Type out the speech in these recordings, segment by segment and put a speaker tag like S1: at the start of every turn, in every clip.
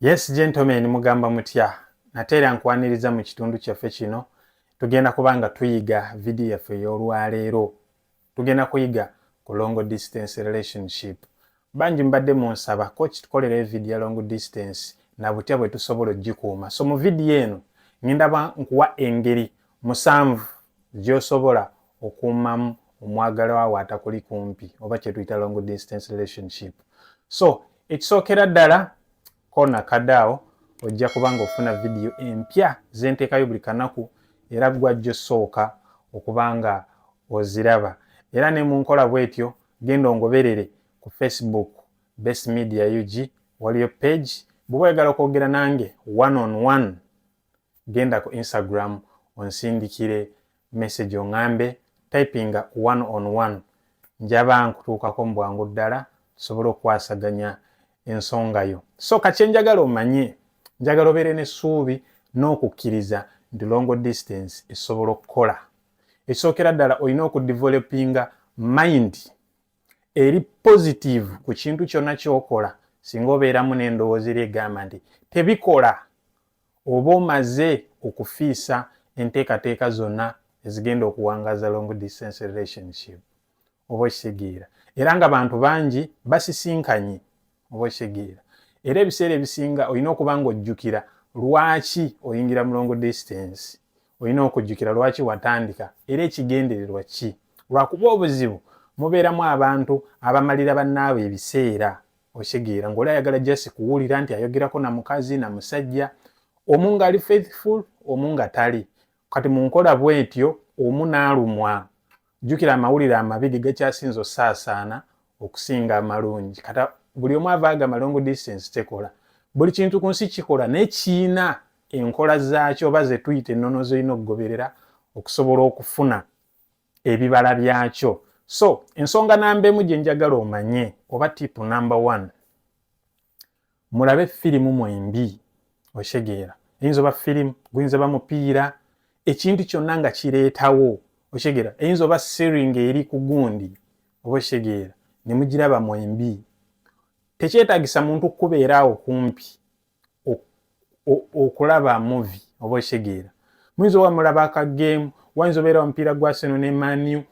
S1: Yes gentlemen mugamba mutya nate era nkwaniriza mu kitundu kyaffe kino tugenda kuba nga tuyiga vidiyo yaffe ey'olwaleero tugenda kuyiga ku long distance relationship bangi mbadde munsaba ko kitukolera evidiyo ya long distance na butya bwe tusobola okugikuuma so mu vidiyo eno ngenda ba nkuwa engeri musanvu gy'osobola okuumamu omwagalwa wo atakuli kumpi oba kyetuyita long distance relationship so ekisookera ddala kona kadaawo ojja kuba nga ofuna vidiyo empya zenteekayo buli kanaku era gwajjo sooka okuba nga oziraba era ne mu nkola bwetyo genda ongoberere ku facebook best media ug waliyo page bwoba oyagala okwogera nange one on one genda ku instagram onsindikire message ongambe typinga one on one njaba nkutuukako mu bwangu ddala tusobole okukwasaganya ensonga yo so kakyenjagala omanye njagala obeere n'essuubi n'okukkiriza nti longo distance esobola okukola ekisookera ddala olina okudevelopinga mind eri positive ku kintu kyonna kyokola singa obeeramu n'endowooza eri egamba nti tebikola oba omaze okufiisa enteekateeka zonna ezigenda okuwangaza long distance relationship oba okitegeera era nga bantu bangi basisinkanye oba okitegeera era ebiseera ebisinga olina okuba nga ojjukira lwaki oyingira mu long distance olina okujjukira lwaki watandika era ekigendererwa ki lwakuba obuzibu mubeeramu abantu abamalira bannaabwe ebiseera okitegeera ngaoli ayagala just kuwulira nti ayogerako na mukazi na musajja omu ngaali faithful omu nga tali kati munkola bwetyo omu naalumwa jjukira amawulire amabi ge gakyasinza osaasaana okusinga amalungi kata buli omu ava agamba long distance tekola buli kintu ku nsi kikola naye kiina enkola zaakyo oba zetuyita ennono zolina okugoberera okusobola okufuna ebibala byakyo so ensonga namba emu gye njagala omanye oba tipu namba one mulabe firimu mwembi okitegeera eyinza oba firimu guyinza ba mupiira ekintu kyonna nga kireetawo okitegeera eyinza oba siringa eri ku gundi oba okitegeera ne mugiraba mwembi tekyetagisa muntu kukubeeraawo kumpi okulaba muvi oba okitegeera muyinza oba mulaba akageemu wayinza obeera omupiira gwa seno ne maniu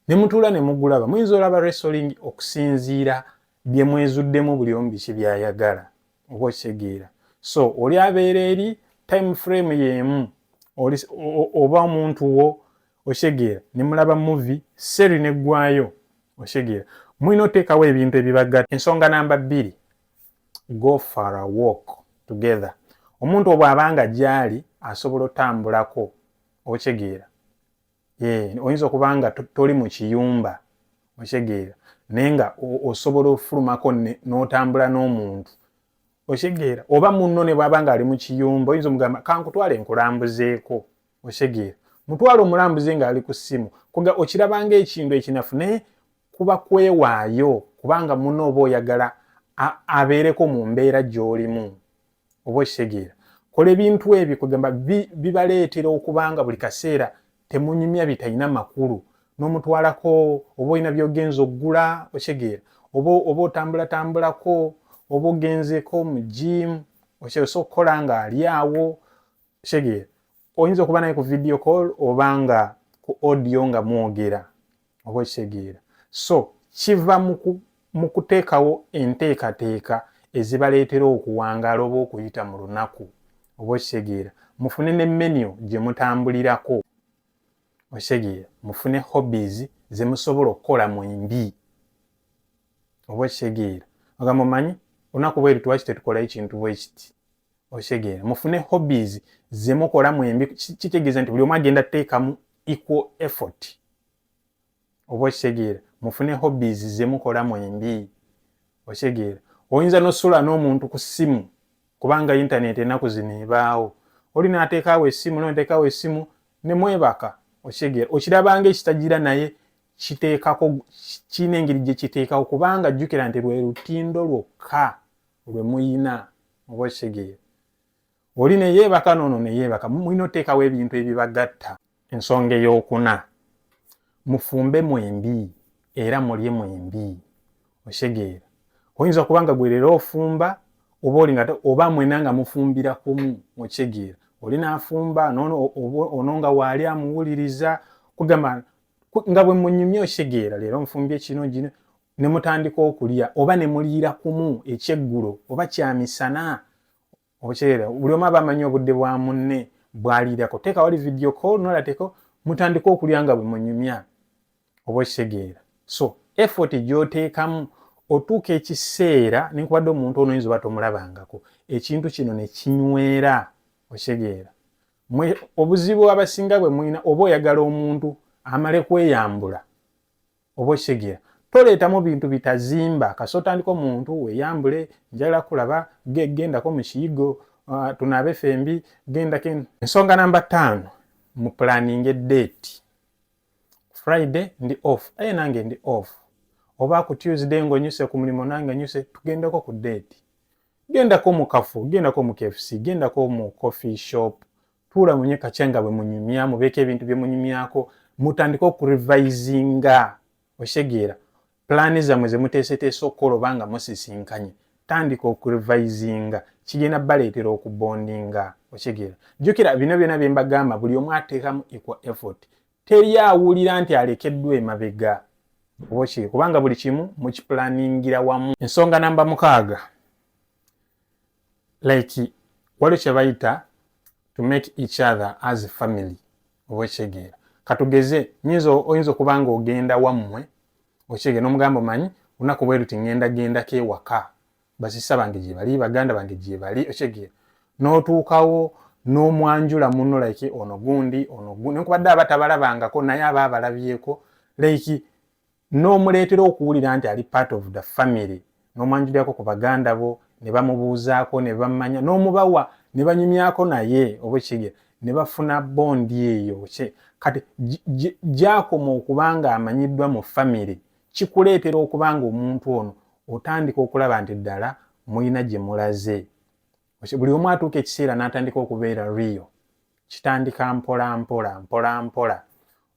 S1: ne mutuula ne mugulaba muyinza olaba resoling okusinziira bye mwezuddemu buli omu biki byayagala oba okitegeera so oli abeera eri time frame y'emu oba omuntu wo okitegeera ne mulaba muvi seri neggwayo okitegeera mulina oteekawo ebintu ebibagatta ensonga namba bbiri go for a walk together omuntu obwaba nga gyali asobola otambulako okyegeera eh, oyinza okuba nga toli mu kiyumba okyegeera naye nga osobola ofulumako n'otambula n'omuntu okyegeera oba munno ne bwaba nga ali mu kiyumba oyinza omugamba kankutwale nkulambuzeeko okyegeera mutwale omulambuze ng'ali ku ssimu okirabanga ekintu ekinafu naye kuba kwewaayo kubanga muna oba oyagala abeereko mu mbeera gy'olimu oba okitegeera kola ebintu ebyo kwegamba bibaleetera okuba nga buli kaseera temunyumya bitalina makulu n'omutwalako oba olina byogenza okugula okitegeera oba oba otambulatambulako oba ogenzeko mu jiimu osobola okukola nga ali awo Shege, oyinza okuba naye ku video call oba nga ku audio nga mwogera oba okitegeera so kiva mu kuteekawo enteekateeka ezibaleetera okuwangaala oba okuyita mu lunaku oba okitegeera mufune ne menu gye mutambulirako okitegeera mufune hobbies ze musobola okukola mu embi oba okitegeera ogamba omanyi olunaku bweri twaki tetukolayo kintu bwekiti okitegeera mufune hobbies zemukola mwembi kitegeeza nti buli omu agenda teekamu equal effort oba okitegeera mufune hobbies zemukola mwembi okitegeera oyinza nosula n'omuntu ku ssimu kubanga intaneti enaku zino ebaawo oli nateekaawo essimu noteekaawo essimu nemwebaka okitegeera okirabanga ekitagira naye kiteekako kirina engeri gye kiteekawo kubanga jjukira nti lwe lutindo lwokka lwe muyina oba okitegeera oli neyeebaka noono neyeebaka mulina oteekawo ebintu ebibagatta ensonga eyokuna mufumbe mwembi era mulye mwembi okitegeera oyinza okuba nga gwerera ofumba oba olinga oba mwena nga mufumbira kumu okitegeera oli nafumba noono ono nga waali amuwuliriza kugamba nga bwe munyumye okitegeera leero nfumbye kino gino ne mutandika okulya oba ne muliira kumu ekyeggulo oba kyamisana okyera buli omu aba amanyi obudde bwa munne bwaliirako teeka wali video call nolateko mutandika okulya nga bwe munyumya oba okitegeera so effort gyoteekamu otuuka ekiseera nenkubadde omuntu ono oyinza oba tomulabangako ekintu kino ne kinywera okitegeera obuzibu abasinga bwe mulina oba oyagala omuntu amale kweyambula oba okitegeera toleetamu bintu bitazimba kasi otandika omuntu weyambule njagala kulaba gendako mu kiyigo uh, tunaabe fembi gendako ensonga namba ttaano mu pulaninga eddeeti friday ndi off aye nange ndi off oba ku tuesday ngonyuse ku mulimu nange nyuse tugendako ku deeti gendako mu kafu gendako mu kfc gendako mu coffee shop tuula munye kakya nga bwe munyumya mubeeko ebintu bye munyumyako mutandike okurevisinga okitegeera pulaani zammwe ze muteeseteese okukola oba nga musisinkanye tandika okurevisinga kigenda baleetera okubondinga okitegeera jjukira bino byona bye mbagamba buli omu ateekamu equal effort teri awulira nti alekeddwa emabega oba kiri kubanga buli kimu mukipulaningira wamu ensonga namba mukaaga like wali kyebayita to make each other as family oba ekyegeera katugeze nyinza oyinza okuba nga ogenda wammwe okyegeera nomugamba omanyi lunaku bwe luti ngenda gendako ewaka basisa bange gyebali baganda bange gyebali okyegeera notuukawo nomwanjula muno like ono gundi ono gundi nkubadde aba tabalabangako naye aba abalabyeko like n'omuleetera okuwulira nti ali part of the family n'omwanjulirako ku baganda bo ne bamubuuzaako ne bammanya n'omubawa ne banyumyako naye oba ekigera ne bafuna bondi eyo kati gyakoma okuba ng'amanyiddwa mu famire kikuleetera okuba ng'omuntu ono otandika okulaba nti ddala mulina gye mulaze buli omu atuuka ekiseera n'atandika okubeera riyo kitandika mpola mpola mpola mpola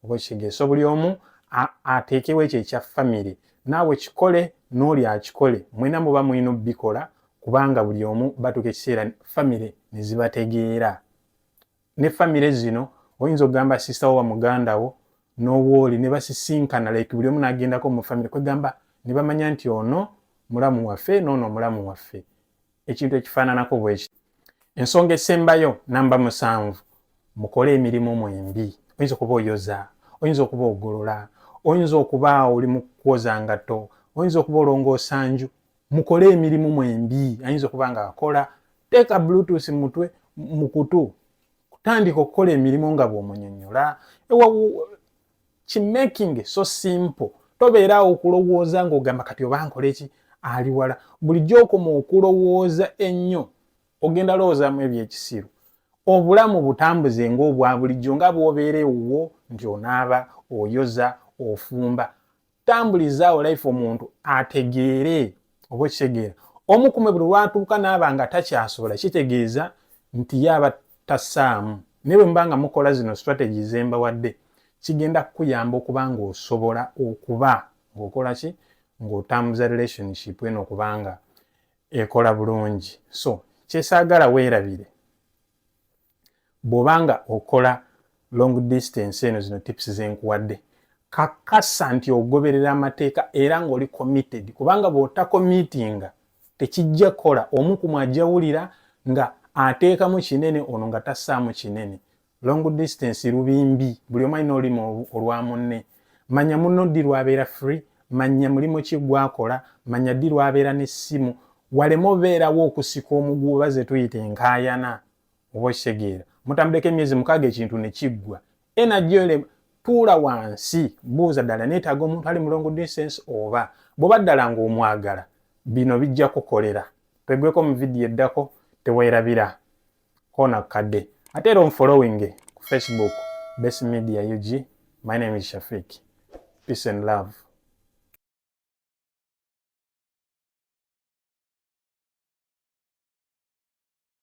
S1: oba ekitegeeso buli omu ateekewo ekyo ekya famire naawe kikole n'oli akikole mwena muba mulina obikola kubanga buli omu batuuka ekiseera famire ne zibategeera ne famire zino oyinza okugamba sisita wo wa muganda wo n'owooli ne basisinkana like buli omu n'agendako mu famire kwegamba ne bamanya nti ono mulamu waffe n'ono omulamu waffe ekintu ekifaananako bwekiti ensonga esembayo namba musanvu mukole emirimu mwembi oyinza okuba oyoza oyinza okuba ogolola oyinza okuba oli mukwoza ngato oyinza okuba olongoosa nju mukole emirimu mwembi ayinza okuba nga akola teeka bluetooth mutwe mukutu kutandika okukola emirimu nga bwomunyonyola ki making so simple tobeeraawo okulowooza ng'ogamba kati oba nkola eki ali wala bulijjo okoma okulowooza ennyo ogenda lowoozamu ebyekisiru obulamu butambuze ng'obwa bulijjo nga bwobeera ewuwo nti onaaba oyoza ofumba tambulizaawo life omuntu ategeere oba okitegeera omu kumwe buli lwatuuka naaba nga takyasobola kitegeeza nti yaaba tasaamu naye bwe muba nga mukola zino strategy zembawadde kigenda kukuyamba okuba ng'osobola okuba ng'okola ki ng'otambuza relationship eno okubanga ekola bulungi so kyesaagala weerabire bw'oba nga okola long distance eno zino tips zenkuwadde kakasa nti ogoberera amateeka era ng'oli committed kubanga bw'otakomitinga tekijja kukola omu ku mwajawulira nga ateekamu kinene ono nga tassaamu kinene long distance lubimbi buli omu alina olulimi olwa munne manya munno ddi lwabeera free manya mulimu ki gwakola manya ddi lwabeera n'essimu waleme obeerawo okusika omuguuba ze tuyita enkaayana oba okitegeera mutambuleko emyezi mukaaga ekintu ne kiggwa energy yo tuula wansi buuza ddala neetaaga omuntu ali mu long distance oba bw'oba ddala ng'omwagala bino bijja kukolera twegweko mu vidiyo eddako teweerabira kona kukadde ate era onfollowinge ku facebook best media ug my name is shafik peace and love